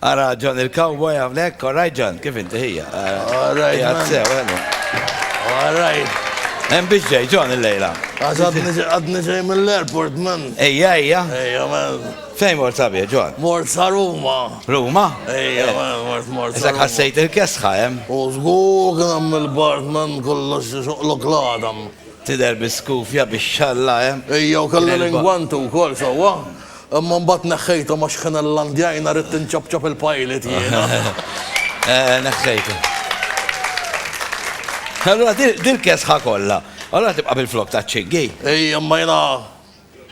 Ara John il-cowboy hawnhekk, all right John, kif inti ħija? All right. Qiegħed sew, ħelu. All right. Hemm biex ġej John il-lejla. Għax għadni- għadni ġej mill-airport man. Ejja, ejja. Ejja man. Fejn mort sabiħ John? Mort sa Ruma. Ruma? Ejja man, mort mort sa Isak Ruma. ħassejt il-kesħa hemm. U żgur kien hemm il-bart man kollox xoqlok l-għadam. Tidher biskufja bix-xalla hemm. Ejja u kellu L-elba. l-ingwantu wkoll sewwa. Imma mbagħad neħħejthom għax kien il-landjajna ridt inċapċap il-pilot jiena. Neħħejtu. Allura dil-kesħa kollha. Allura tibqa' bil-flok ta' ċiggi. Ej, imma jiena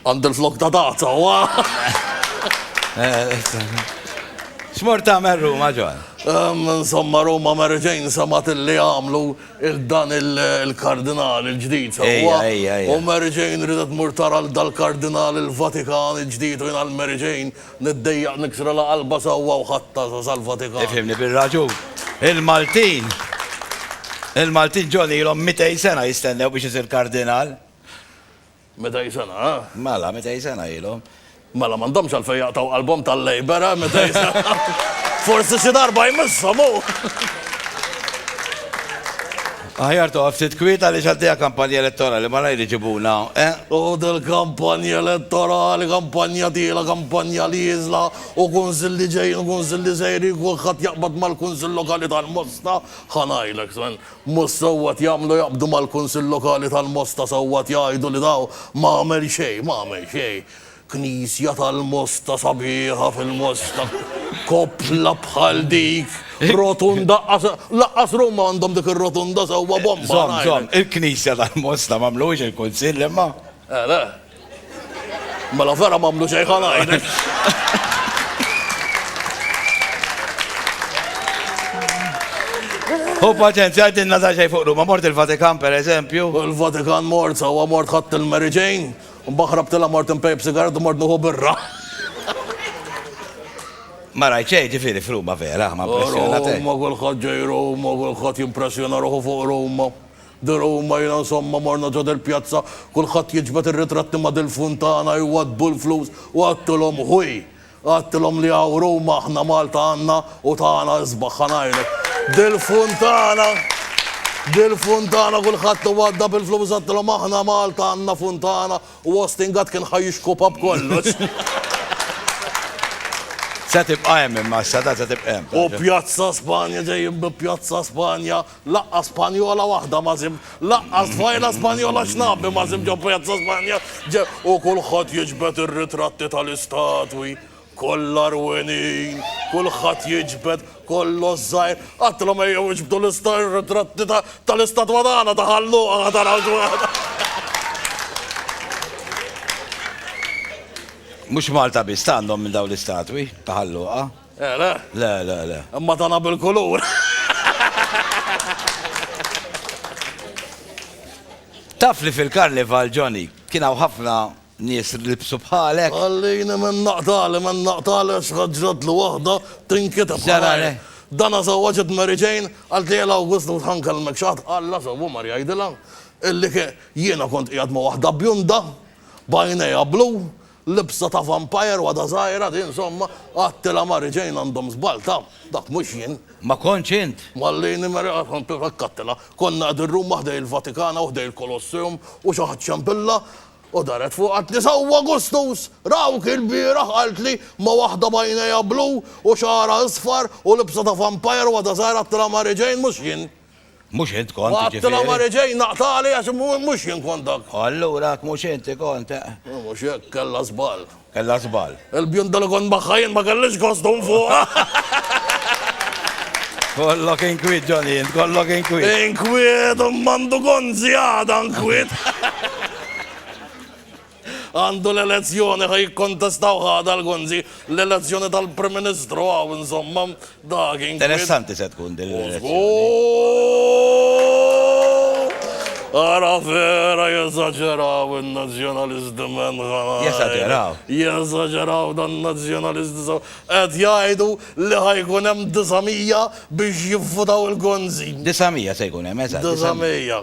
għandi l-flok ta' dazza, wa? X'mort tagħmel Ruma, John? Insomma, Ruma Mary Jane semgħet illi għamlu Dan il-Kardinal il-ġdid sewwa. U Mary Jane ridet tmur tara lil dal-Kardinal il-Vatikan il-ġdid u jiena għal Mary Jane niddejjaq niksrilha qalbha sewwa u ħadtha sal-Vatikan. Ifhimni bir-raġun. Il-Maltin, il-Maltin John ilhom mitej sena jistennew biex isir Kardinal. Meta hi sena, eh? Mela, meta hi sena ilhom. Mela m'għandhomx għalfejn jaqtgħu qalbhom tal-Labour, eh? Meta hi sena. Forsi xi darba jmisshom hu. Aħjar toqgħod ftit kwiet għaliex għaddejja kampanja elettorali ma lajr iġibuna, eh? U dil-kampanja elettorali, kampanja tiela, kampanja li jiżla, u kunsilli ġejjin, kunsilli sejri, kulħadd jaqbad mal-kunsill lokali tal-Mosta. Ħanajlek, Sven, Mhux sewwa qed jagħmlu jaqbdu mal-Kunsill Lokali tal-Mosta sewwa qed jgħidu li daw m'għamel xejn m'għamel xejn. Knisja tal-Mosta sabiħa fil-Mosta. Koppla bħal dik. Rotunda laqqas Ruma għandhom dik ir-rotunda sewwa bomba ngħidlek. Żomm żomm il-Knisja tal-Mosta m'għamluhiex il-Kunsill imma. Eh le. Mela vera m'għamlu xejn ħa ngħidlek. U paċenzja għaddinna ta' xejn fuq Ruma, mort il-Vatikan per eżempju. Il-Vatikan mort, sawa mort ħadd il-Mary Jane, u baħrab tila mort impejb sigaret u mort nuħu birra. Ma rajt xejn ġifieri f'Ruma vera, ma impressjonat. Ruma kulħadd ġej Ruma, kulħadd jimpressjona ruħu fuq Ruma. Dil huma jiena insomma morna ġo dil pjazza kulħadd jiġbed ir-ritratti ma dil funtana jwaddbu l-flus u għadtilhom ħuj għadtilhom li hawn Ruma aħna Malta għandna u tagħna isbaħ ħa ngħidlek dil funtana dil funtana kulħadd iwadda bil flus għadtilhom aħna Malta għandna funtana u Austin Gatt kien ħa jixkupa b'kollox. Se tibqa' hemm imma s-sada se tibqa' hemm. U Pjazza Spanja ġejjin bi Pjazza Spanja Laqqa Spanjola waħda ma sib, laqqa stfajla Spanjola xnabi ma sib ġo Pjazza Spanja ġe u kulħadd jiġbed ir-ritratti tal-istatwi kollha rwenin, kulħadd jiġbed kollox żgħir, għattilhom ejjew iġbdu l-ritratti tal-istatwa tagħna ta' ħalluqa ma tarawx waħda. Mhux Malta biss għandhom minn dawn l-istatwi ta' ħalluqa. Eh, le? Le, le, le. Imma tagħna bil-kulur. Taf li fil-karnival, Johnny, kien hawn ħafna nies libsu bħalek. Għallini minn naqtali, minn naqtali xħadġrat l waħda tinkita bħalare. Dana zawaġet Mary Jane, għalt li l-August u tħanka l-mekxat, għalla zawu mar jajdila, illi jiena kont qiegħed ma waħda bjunda, bajneja blu, Libsa ta' vampire wahda żgħira din somma għattilha Mary Jane għandhom żball ta' dak mhux jien. Ma kontx int? Mallini Mary Jane hekk għattilha. Konna qegħdin Ruma ħdejn il-Vatikana u ħdejn il-Kolosseum u xi ħadd xempilha u daret fuq qaltli sewwa Gustus! Rawk ilbieraħ qaltli ma' waħda b'għajnejha blu u xagħarha isfar u libsa ta' vampire wahda żgħira għattilha Mary Jane mhux jien. Mhux int kont, jiġifieri. Qatt la ma reġa' jingħaqtali għax mhux jien kont dak. O allura jekk mhux inti kont, eh. U mhux hekk, kellha żball. Kellha żball. Il-bjunda li kont magħha jien ma kellhiex kostum fuqha. Kollok inkwiet, Johnny, int kollok inkwiet. Inkwiet, u m'għandu kont żjada inkwiet. Għandu l-elezzjoni ħa jikkontestaw ħa dal Gonzi l-elezzjoni tal-Prim Ministru hawn insomma dak inkwiet. Interessanti se tkun din l-elezzjoni. Ara vera jeżaġeraw il-nazjonalist men ħana. Jeżaġeraw. Jeżaġeraw dan nazjonalist so. Qed jgħidu li ħajkun hemm 900 biex jivvutaw il-Gonzi. 900 se jkun hemm, eżatt. 900.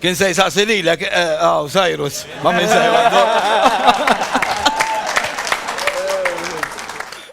Kien se jsaqsi lilek, aw, eh, Cyrus, ma minn se